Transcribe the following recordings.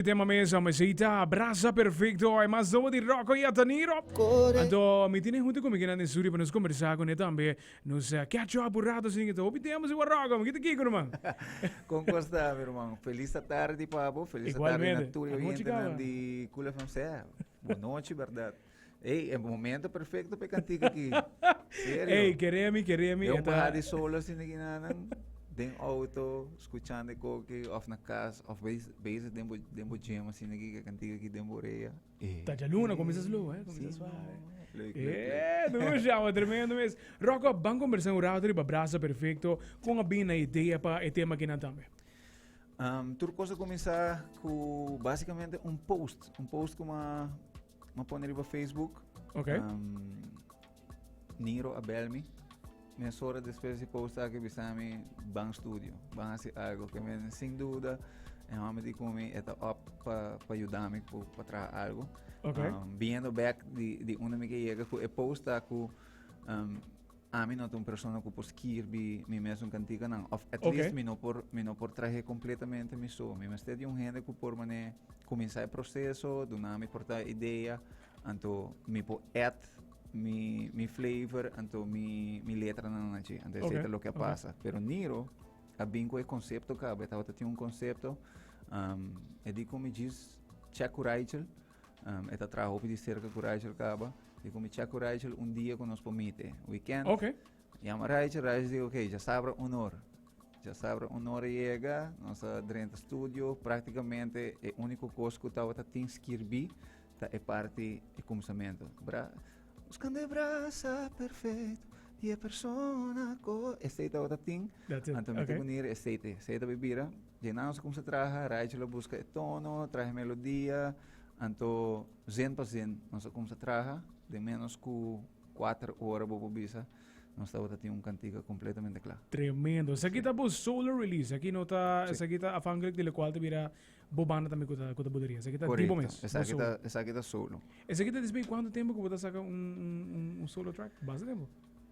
E tema mesa mesey ta Brasa Perfecto e mas nobo di Rocco y Ataniro. Anto mi tin e hunta cu mikinan den studio pa nos combersa cu ne tambe. Nos catch up un rato asina ta hopi tema si wak Rocco mi kita kiko ruman. Con cos ta mi ruman? Feliz ta tardi pa bo, feliz ta tardi na tur e oyentenan di Cool FM sea. Bo nochi berdad. Ey, el momento perfecto pe cantica aquí. Serio. Ey, queremi, queremi. Yo pa hadi solo sin aquí nada. Den auto, escuchando coque, of na casa, of bezig den bo, den bo gym, así aquí, que cantica aquí den borea. Ey. Tacha luna, comienza slow, eh? Comienza sí, suave. Leuk, leuk, eh, leuk. Doe chama, tremendo mes. Rocco, ban conversar un rato riba brasa perfecto. Con a bina idea pa e tema que nan tambe. Um, tur cosa comienza cu basicamente un post. Un post como Ma pone riba Facebook. Ok. Um, Niro Abelmi. Mes hora después de post aquí bisami Bang Studio. Van a hacer algo que me, sin duda, en home di kumi eta op pa pa ayudami pa pa traha algo. Ok. Um, viendo back di di una mi que llega ku e post aku um, Ami no ta un persona ku por skirbi mi mes un kantikanan. Of at least okay. mi, no por, mi no por trahe kompletamente mi so. Mi mester di un hende ku por mané kuminsá e proseso, duna mi portá idea, anto mi por add mi, mi flavor, anto mi, mi letra na nachi. Anto okay. ese lo ke okay. pasa. Pero Niro a bin ku e konsepto ka, betawata tin un konsepto, um, e di ku mi jis check ku Rachel, E ta traha hopi di serka ku Rachel kaba. I ku mi chak ku Rachel un dia ku nos por mite, weekend. Ok. Yama Rachel, Rachel di ok, ja sabra un or. Ja sabra un or a yega, nos a drenta studio. Praktikamente e uniko kos ku tabata tin skirbi ta e parti e kumsamentu. Bra, Buscando e brasa perfekto di e persona ku. Esei tabata tin. That's it. Anto mi ta Okay. bunir esei te. Esei ta bai bira. Dinaus a kumsa traha, Raichel a buska e tono, traha e melodia, anto zin pa zin nos a kumsa traha, den ménos ku kuater ora bo por bisa nos tabata tin un kantika kompletamente kla. Tremendo. Esaki ta bo solo release, esaki no ta, Sí. esaki ta afhankelijk di lokual ta bira bo banda tambe ku ta ku ta buderia. Esaki ta di bo Korekto, mes, bo esaki solo. ta esaki ta solo. Esaki ta despues di kuantu tempu ku bo ta saka un un un un solo track? Basta tempu.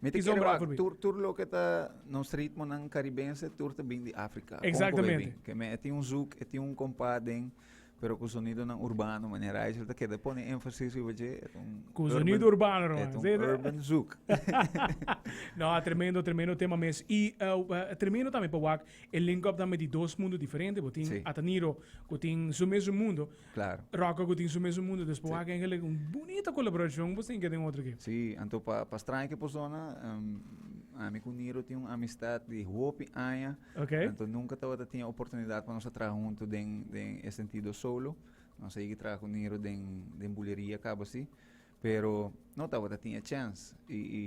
Mi ta kere wak, tur, tur loke ta nos ritmonan karibense, tur ta bin di Afrika. Kon ku Exactamente. bebin? Ke men e tin un zoek, e tin un kompa den, pero ku sonidonan urbano, mane Raichel ta keda pone énfasis riba dje, et un Ku urban- sonido urbano, no, et man. un Ze- ze- urban zoek. No, a tremendo, tremendo tema mes. Y eh, eh, tremendo tambe pa wak e link up tambe di dos mundo diferente. Bo tin Sí. Ataniro, ku tin su mes su mundo. Claro. Rock a cu tin su mes un mundo despues wak engelek un bunita colaboracion bo tin ke den otro ke. Sí, anto pa pa straña ki persona ami cu Niro tin un amistad di hopi aña. Okay. Anto nunca tabata tin e oportunidad pa nos a traha hunto den den e sentido solo. Nos a yega traha cu Niro den den buleria caba así. Pero no tabata tin e chèns. I, i,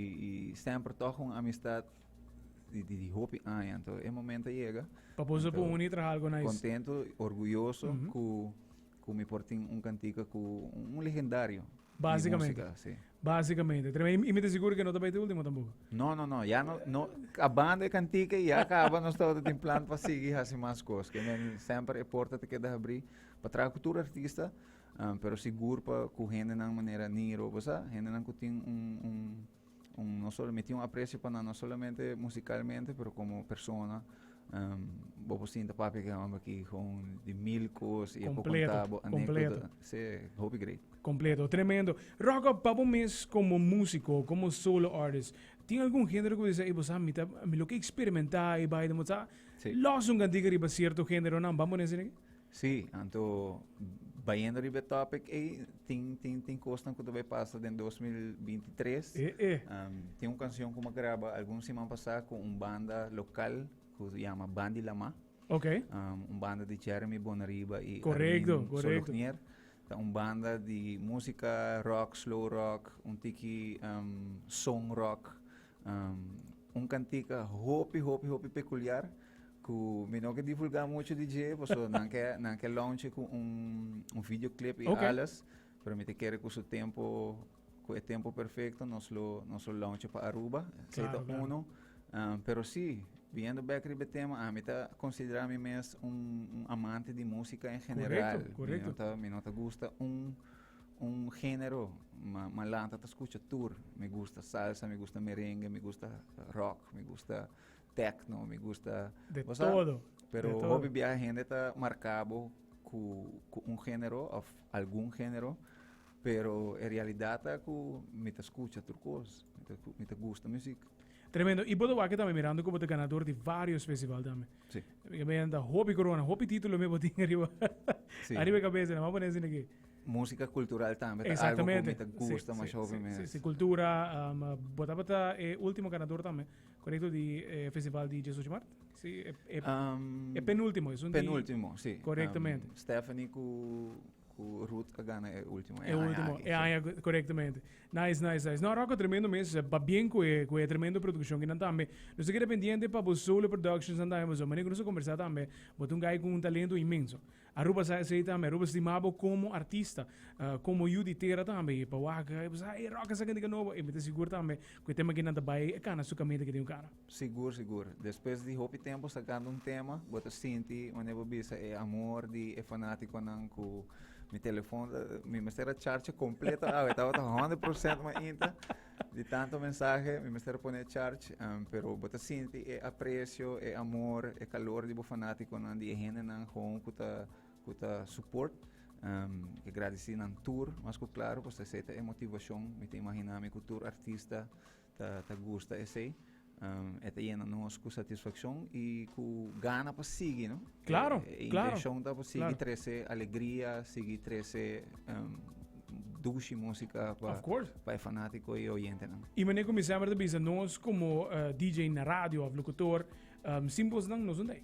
i Stamper tòg un amistat di, di, di hopi aña. Anto e momento a yega. Pa boso anto, por uni traha algo nice. Kontento, orguyoso mm -hmm. ku, ku mi por tin un kantika ku un, un legendario. Básicamente. Música, sí. Básicamente. Y me te seguro que no te va a ir último tampoco. No, no, no. Ya no, no. Acabando de cantica, ya acaba. no estaba en plan para seguir haciendo más cosas. Que men siempre porta te queda abrir. Para trabajar con todo artista. Pero sigur pa ku hendenan manera Nini Roba sa, hendenan ku tin un, un, un, no solo, mi tin un aprecio pa nan, no solamente musicalmente, pero como persona. Um, bo por sinta, papi, aki e hombre aki gewoon di mil cos, i e por Completo, conta bo anécdota. completo. Sí, hopi great. Completo, tremendo. Rocco, pa bo mes como músico, como solo artist, tin algun género ku bo di se, ey, bo sa, mi ta, mi lo ke experimentá, ey, bai, ta, bo sa, Sí. lòs un kantiga riba cierto géneronan, ban bo na esei? Sí, anto bayendo riba e topic ey, tin, tin, tin cosnan cu ta bay pasa den 2023. E, e. Um, tin un cancion cu me graba algun siman pasa cu un banda local cu se llama Bandi Lama. Ok. Um, un banda di Jeremy Bonariba y Correcto, Armin correcto. Solognier. Ta un banda di música rock, slow rock, un tiki um, song rock. Un kantika hopi hopi hopi pekuliar ku mi no ke divulgá muchu di dje pasobra nan ke nan ke launche ku un video klip i alles pero mi ta kere ku su tempu ku e tempu perfekto nos lo nos lo launche pa Aruba esei ta unu pero si biendo bek riba e tema ami ta konsiderá mi mes un amante di musika en general mi no ta mi no ta gusta un Un genero malanta ta scucha tur. Mi gusta salsa, mi gusta merengue, mi gusta rock, mi gusta techno, mi gusta... De todo. Pero hopi bia hende ta marcabo cu, cu un genero of algun genero. Pero e realidad ta cu mi ta scucha tur cos. Mi ta gusta music. Tremendo. Y bo ta wak e tambe mirando cu bo ta ganador di varios festival tambe. Sí. Mira me anda hopi corona, hopi título me botín arriba. Sí. arriba de cabeza, no me poner sin aquí. Música cultural también, tá algo que me tá gusta sí, más sí, hopi sí, sí, sí, cultura, um, ah, bota bota eh, último ganador también, correcto, di eh, festival di Jesus Mart. Sí, eh, eh, um, eh, penúltimo, es un penúltimo, di, sí. Correctamente. Um, Stephanie cu Cu Ruth a gana e ultimo e aña aki. E aña aki, corectamente. Nice, nice, nice. No, Rocco, tremendo mes. Ba bien cu e, cu e tremendo produccion kinan tambe. Nos ta keda pendiente pa bo solo productions nan tambe, pasobra manera cu nos a conversa tambe, bo ta un guy cu un talento inmenso. Aruba sa esey tambe, Aruba stima bo como artista, uh, como yu di tera tambe. Y pa wak, y bo sa, ey, Rocco, sa cantica nobo. Y mi ta sigur tambe cu e tema kinan ta bay, e cana su caminda ki tin cu cana. Sigur sigur, despues di hopi tempo sakando un tema bo ta sinti wanneer bo bisa e amor di e fanaticonan cu mi telefon ta, mi mester a charcha completo awe, tabata honderd procent ma inta di tanto mensahe mi mester a pone charch, um, pero bo ta sinti e aprecio, e amor, e calor di bo fanaticonan, di e hendenan gewoon cu ta cu ta support, um, e gradeci nan tur mas cu claro, pues esey ta e motivacion, mi ta imagina mi cu tur artista. Ta gusta esei. E ta yena nos ku satisfakshon i ku gana pa sigui, no? Klaro, klaro. E intenshon ta pa sigui trese alegria, sigui trese dushi músika pa e fanátiko i e oyentenan. I manera ku mi semper ta bisa, nos komo DJ na radio òf lokutor, sin bosnan nos no ta ei.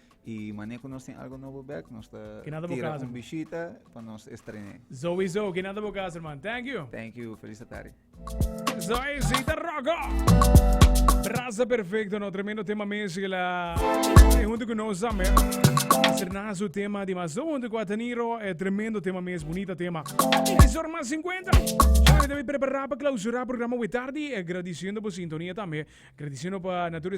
Y mane cu nos tin algo nobo bek, nos ta tira un bishita pa nos estrené. Sowieso, ke nada bo casa, herman. Thank you. Thank you. Feliz ta tarde. Zo e zita rogo. Brasa perfecto, no tremendo tema mezcla. E junto con nos ame. Serna su tema di mas junto con Ataniro. E tremendo tema mes, bonita tema. E zor mas 50. Yo debe preparar para clausurar programa we tarde. Agradeciendo por sintonia también. Agradeciendo para Natura